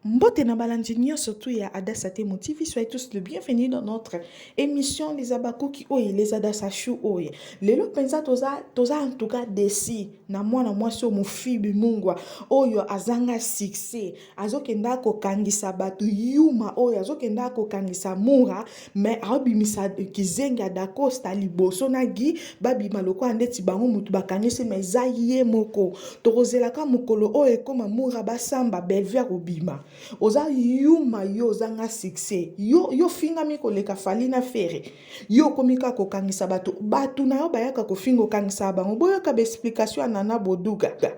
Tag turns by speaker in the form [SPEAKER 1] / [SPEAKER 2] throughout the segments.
[SPEAKER 1] Mbote na balandi nyonso tu ya Adassa Temo TV, soyez tous le bienvenu dans notre émission Les Abakuki Oye, Les Adassa Chou Oye. Lelo penza toza toza en tout cas déçu na mwana mwasi oyo Mofibi Mungwa oyo azanga succès, azokenda kokangisa bato yuma oyo azokenda kokangisa Mura mais aobimisa kizengi ya dacosta liboso na gi babima lokola ndeti bango motu bakangisi ma eza ye moko tokozelaka mokolo oyo ekoma mura basamba bellevue akobima oza yuma yo ozanga succès yo yo fingami koleka fali na fere yo okomi kaka kokangisa bato bato na yo bayaka kofinga okangisaka bango boyoka baexplication ya nana boduga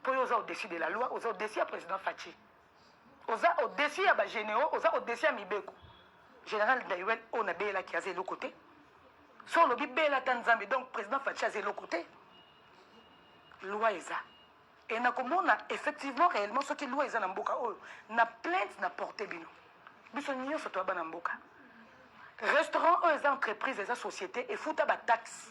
[SPEAKER 2] mpo yo oza au-dessus de la loi oza au-dessus ya président faci oza au-dessus ya bagénéraux oza au-dessus ya mibeko général daiwel oyo nabeyelaki aza eloko te so olobi bela ata nzambe donc président faci aza eloko te loi eza e nakomona effectivement réellement soki loi eza na mboka oyo na plainte na porte bino biso nyonso toya bana mboka restaurant oyo eza entreprise eza société efuta bataxe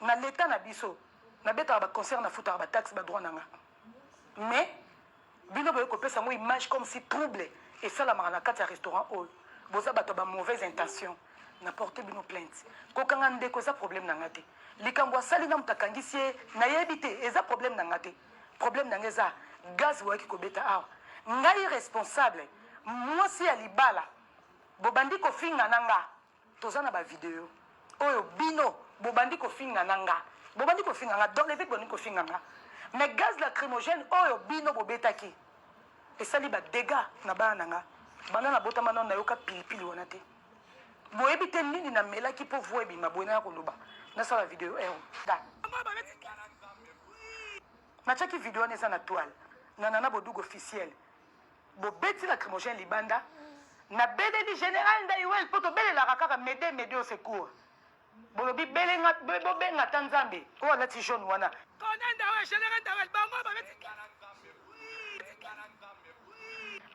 [SPEAKER 2] Na l'etat na biso na betaka ba concert na futaka ba taxes ba droit nanga mais bino boye kopesa yango image comme si trouble esalamaka na kati ya restaurant oyo boza bato ya ba mauvaise intention na porte bino plainte kokanga ndeko eza problème na nga te likambo asali na moto akangisi ye nayebi te eza problème na nga te problème na nga eza gaz boyaki kobeta awa ngai responsable mwasi ya libala bobandi kofinga na nga Toza na ba video oyo bino bobandi kofinga na nga bobandi kofinga nga dans les vies bobandi kofinga nga mais gaz lacrymogène oyo bino bobetaki esali ba dégâts na bana na nga banda nabotama nano nayoka pilipili wana te boyebi te nini namelaki mpo voi ebima boye naya koloba nasala video ero natiaki video wana eza na toile na nana bodugu officiel bobeti lacrymogène libanda nabeleli general ndaiwel mpo tobelelaka kaka mede mede au secours bolobi belenga bobenga ata nzambe oyo alati jaune wana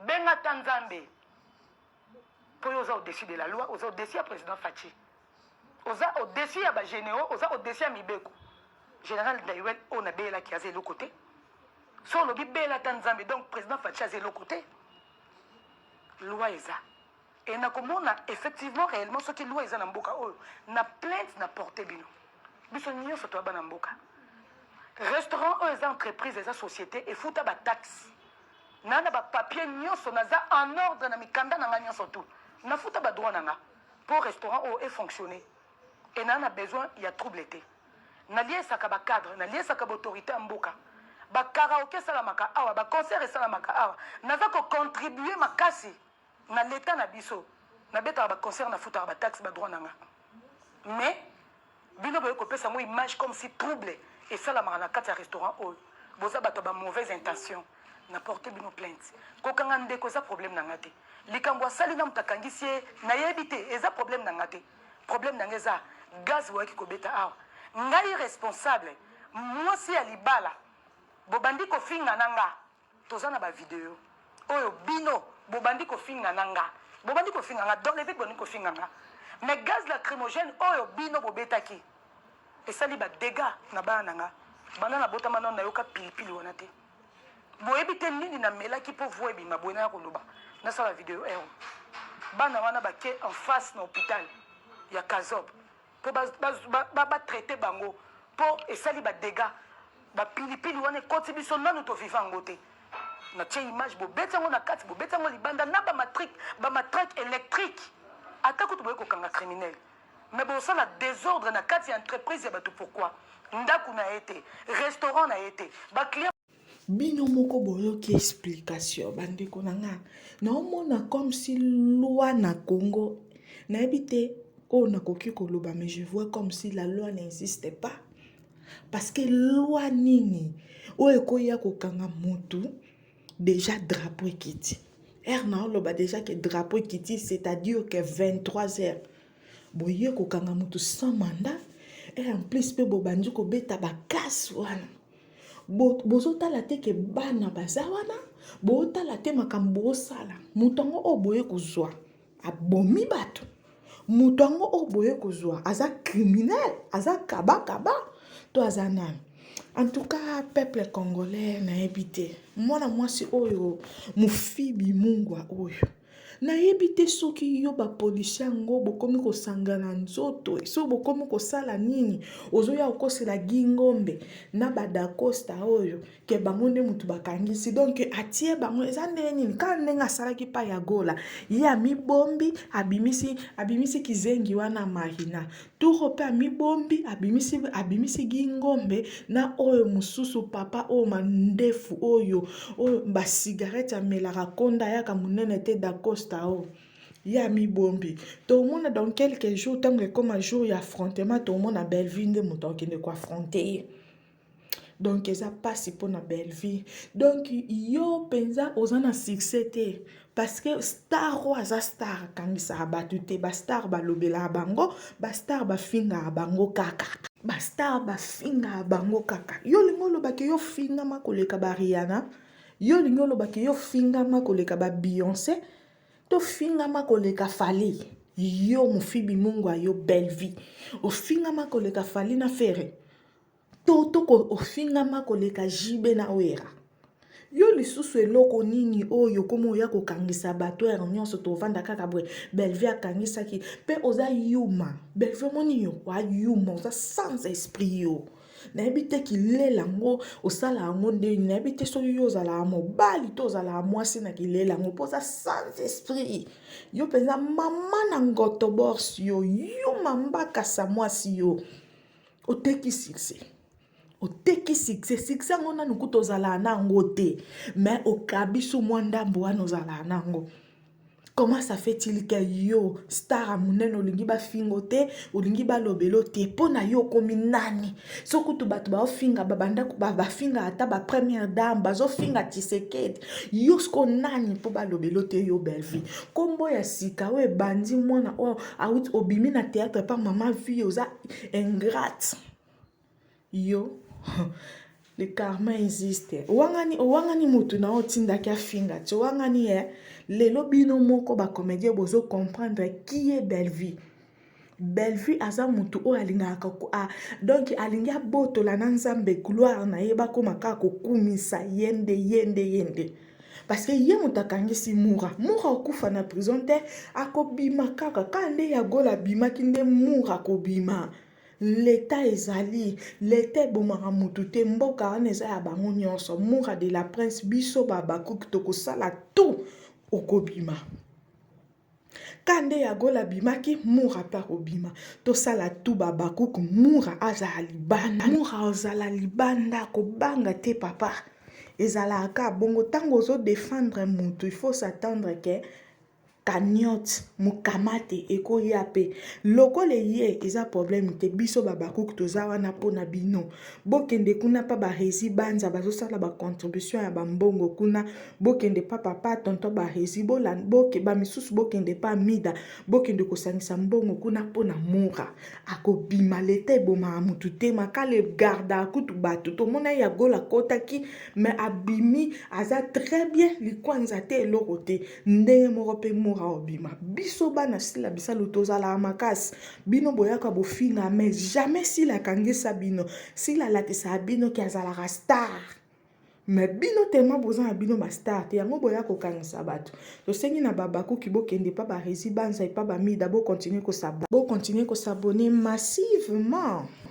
[SPEAKER 2] benga ata nzambe mpo yo oza au-dessus de la loi oza au-dessus ya président faci oza au-dessus ya bagénéraux oza au-dessus ya mibeko général ndaiwel oyo nabeyelaki aza eloko te so olobi bela ata nzambe donc président faci aza eloko te loi eza e nakomona effectivement réellement soki loi eza na mboka oyo na plainte na porte bino biso nyonso toya bana mboka restaurant oyo eza entreprise eza société efuta bataxe N'a na ba papier nyoso naza en ordre na mikanda na nga nyoso tout. Na futa ba droit na nga. Pour restaurant oh est fonctionner. Et na na besoin ya trouble te. Na liesaka ba cadre, na liesaka ba autorité mboka. Ba karaoke salamaka awa, ba concert salamaka awa. Naza ko contribuer makasi. Na l'etat na biso na betaka ba concert na futaka ba taxe ba droit na nga mais bino boye ko pesa ngo image comme si trouble esalamaka na kati ya restaurant oyo boza bato ya ba mauvaise intention na porte bino plainte kokanga ndeko eza problème na nga te likambo asali na moto akangisi ye nayebi te eza problème na nga te problème na nga eza gaz boyaki kobeta awa ngai responsable mwasi ya libala bobandi kofinga na nga Toza na ba video oyo bino bobandi kofinga na nga bobandi kofinga nga dans le vide bobandi kofinga nga mais gaz lacrymogène oyo bino bobetaki esali ba dégâts na bana na nga banda na botama nano nayoka pilipili wana te boyebi te nini namelaki mpo voi ebima boye naya koloba nasala video ero bana wana bake en face na hôpital ya kazob po ba ba ba traiter bango po esali ba dégats ba pilipili wana ekoti biso nanu to vivant ngo te na tie image bobeti yango na kati bobeti yango libanda na ba matrique ba matraque électrique ata kutu boye kokanga criminel mais bosala désordre na kati ya entreprise ya bato pourquoi ndako na ye te restaurant na ye te ba client bino
[SPEAKER 1] moko boyoki explication bandeko na nga naomona comme si loi na congo nayebi te oyo nakoki koloba mais je vois comme si la loi n'insiste pas parce que loi nini oyo ekoya kokanga motu déjà drapeau ekiti ere naoloba déjà ke drapeau ekiti c'est-à-dire que 23 heures boye kokanga motu sans mandat et en plus mpe bobandi kobeta bakase wana bozotala te ke bana baza wana botala te makambo bosala moto yango oyo boye kozwa abomi bato moto yango oyo boye kozwa aza criminel aza kabakaba to aza nani en tout cas peuple congolais nayebi te mwana mwasi oyo mofibi mungwa oyo Nayebi te soki yo ba policier yango bokomi kosangana nzoto soki bokomi kosala nini ozoya kokosela gi ngombe na badacosta oyo ke bango nde motu bakangisi donk atie bango eza ndenge nini kaka ndenge asalaki pa ya gola ye amibombi abimisi abimisi kizengi wana marina Turo mpe amibombi, abimisi, abimisi gingombe na oyo mosusu papa oyo mandefu oyo oyo basigarete amelaka konda ayaka monene te dacosta oyo ye amibombi tomona dans quelques jours ntango ekoma jour ya affrontement tomona bellevue nde moto akende koaffronte ye donc eza mpasi mpo na bellevie donc yo mpenza oza na succès te parce que star oyo aza star akangisaka bato te bastar balobelaka bango bastar bafingaka bango kaka bastar bafingaka bango kaka yo olingi olobaki yo ofingama koleka bariana yo olingi olobaki yo ofingama koleka babeyonce tofingama koleka fali yo mofibi mungu ayo bellevie ofingama koleka fali na fere to to ofingama koleka JB na Wera yo lisusu eloko nini oyo okoma oya kokangisa bato ere nyonso tovanda kaka boye bellevue akangisaki mpe oza yuma bellevue omoni yo wa yuma oza sans esprit yo nayebi te kilela yango osala yango ndeni nayebi te soki yo ozalaka mobali to ozalaka mwasi na kilela yango mpo oza sans esprit yo mpenza mama na ngoto borsi yo yuma mbakasa mwasi yo oteki succès oteki succès succès yango nanu kuta ozalaa na yango te mais okabiso mwa ndambo wana ozalaa na yango comment ça fait il que yo star ya monene olingi bafingo te olingi balobelo te mpo na yo okomi nani so kutu bato baofinga babandako bafinga ata bapremière dame bazofinga tisekedi yo siko nani mpo balobelo te yo bellevie nkombo ya sika oyo ebandi mwana oyo auti obimi na théâtre pa mama vie oza ingrate yo le karma existe owangani owangani motu na otindaki afinga ti owangani ye eh? lelo bino moko bacomédien bozo comprendre qui est bellevue bellevue aza motu oyo alingaka a, donc alingi abotola na nzambe gloire na ye bakoma kaka kokumisa ye nde ye nde ye nde parce que ye moto akangisi mura mura okufa na prison te akobima kaka kaka nde ya gola abimaki nde mura akobima leta ezali leta ebomaka motu te mboka wana eza ya bango nyonso mura de la prince biso babakuki tokosala tout okobima Ka nde ya gola abimaki mura pe akobima tosala tu babakuk mura azala libanda mura ozala libanda kobanga te papa ezalaka ka bongo ntango ozo defendre mutu il faut s'attendre ke cagnotte mokamate ekoya pe lokola eye eza problème te biso babakuk toza wana mpo na bino bokende kuna pa barezi banza bazosala bacontribution ya bambongo kuna bokende pa papa tonton barezi boke bamisusu bokende pa mida bokende kosangisa mbongo kuna mpo na mura akobima leta ebomaka motu te makale garda kutu bato tomona ye ya gola akotaki me abimi aza très bien likwanza te eloko te ndenge moko mpe mura obima biso bana sila bisalu tozalaka makasi bino boyaka bofinga mais jamais sila akangisa bino sila alakisaka bino ke azalaka star mais bino tellement boza na bino bastar te yango boya kokangisa bato tosengi na babakuki bokende epa baresi banza epa bamida bocontinue kosabone massivement